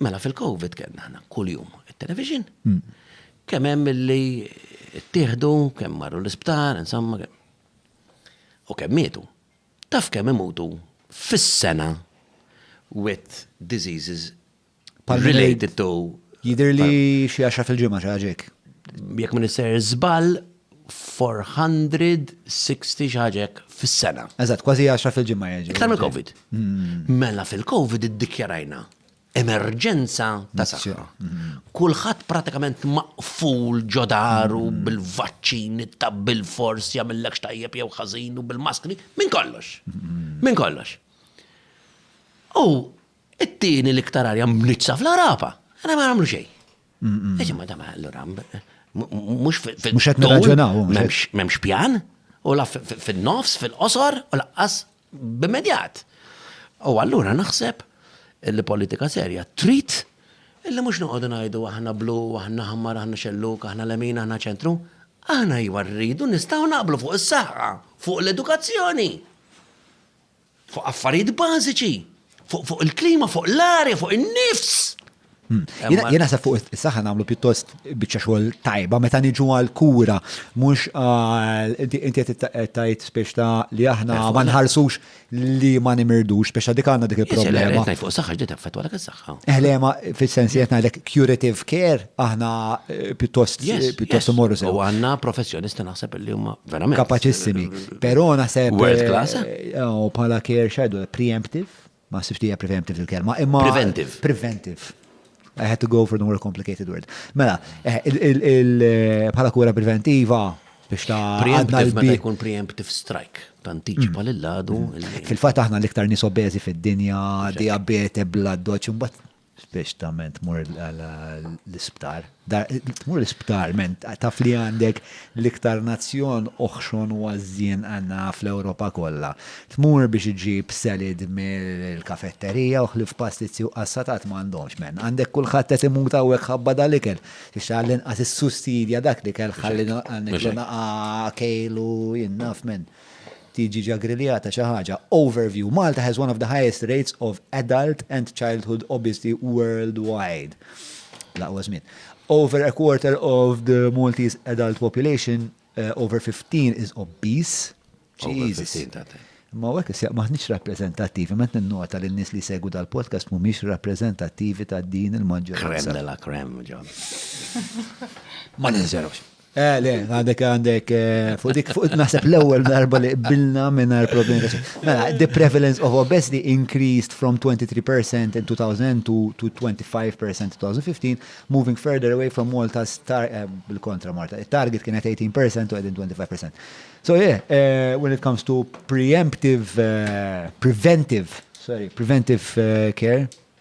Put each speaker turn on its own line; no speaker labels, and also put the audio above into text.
Mela fil-Covid kellna aħna kuljum it-television. Kemm hemm illi ttieħdu, kemm marru l-isptar, insomma. U kemm mietu. Taf kemm imutu fis-sena with diseases related to. Jidher li xi għaxra fil-ġimgħa xi ħaġa hekk. Jekk ma nisser żball, 460 xi ħaġa hekk fis-sena. Eżatt, kważi għaxra fil-ġimgħa jiġu. Iktar mill-Covid. Mela fil-Covid iddikjarajna emerġenza ta' saħħa. Kulħadd pratikament maqful ġodaru mm. bil-vaċċin, ta' bil-fors jagħmillek tajjeb jew ħażin u bil-maskri, minn kollox. Mm. Minn kollox. U it-tieni l-iktar arja mnitsa fl-Arapa. Għana ma għamlu xejn. Eġi ma dama allura mhux fil-. Mhux qed nirraġunaw. M'hemmx pjan u la fin-nofs, fil-qosor u laqqas b'immedjat. U allura naħseb li politika serja trid illi mhux noqogħdu ngħidu aħna blu, aħna ħammar, aħna xelluk, aħna lemin, aħna ċentru. Aħna iwa rridu nistgħu naqblu fuq is-saħħa, fuq l-edukazzjoni, fuq affarijiet bażiċi, fuq fuq il-klima, fuq l-arja, fuq in-nifs. Hmm. Jien naħseb fuq is-saħħa nagħmlu pjuttost biċċa xogħol tajba meta niġu għal kura mhux inti qed tajt spiex ta' li aħna eh, ma nħarsux li ma nimirdux spiex ta' dik għandna dik il-problema. Qed fuq saħħa ġdid effettwa dak is-saħħa. Eħlema eh, fis-sens qed ngħidlek curative care aħna eh, pjuttost pjuttost imorru sew. U għandna professjonisti naħseb li huma verament kapaċissimi. Però naħseb world class. Bħala care shadow preemptive Ma sibx li hija preventive il-kelma, imma. Preventive. Preventive. I had to go for the more complicated word. Mela, eh, bħala kura preventiva, biex ta' għadna l-bi. jkun preemptive strike, tantiċipa mm. l-ladu. Mm. Fil-fat aħna l-iktar nisobezi fid-dinja, diabete, blood dodge, mbatt Speċtament mur l-isptar. Mur l-isptar, men, taf li għandek l-iktar nazzjon oħxon u għazzien għanna fl-Europa kollha. Tmur biex iġib selid mill-kafetterija u ħlif pastizzi u qassatat m'għandhomx, men. Għandek kulħadd qed imut hawnhekk ħabba dal-ikel. Biex għall-inqas issustidja dak l-ikel ħalli għandek l-inqas kejl u jien naf, men. tiġi ġa griljata xi ħaġa. Overview, Malta has one of the highest rates of adult and childhood obesity worldwide. L-aqwa żmien. Over a quarter of the Maltese adult population uh, over 15 is obese. Jesus. Ma għek s maħniċ rappresentativi, ma t-nota li n-nis li segu dal-podcast mu miex rappresentativi ta' din il-maġġoranza. Krem la krem, ġon. Ma ninżerux. Eh, le, għandek għandek, eh, fuq dik fuq naħseb l-ewwel darba li qbilna mingħajr problemi ta' xejn. Mela, the prevalence of obesity increased from 23% in 2000 to, to 25% in 2015, moving further away from Malta's tar eh, bil-kontra Malta. It-target kienet 18% u qegħdin 25%. So yeah, eh, when it comes to preemptive, eh, preventive, sorry, preventive eh, care,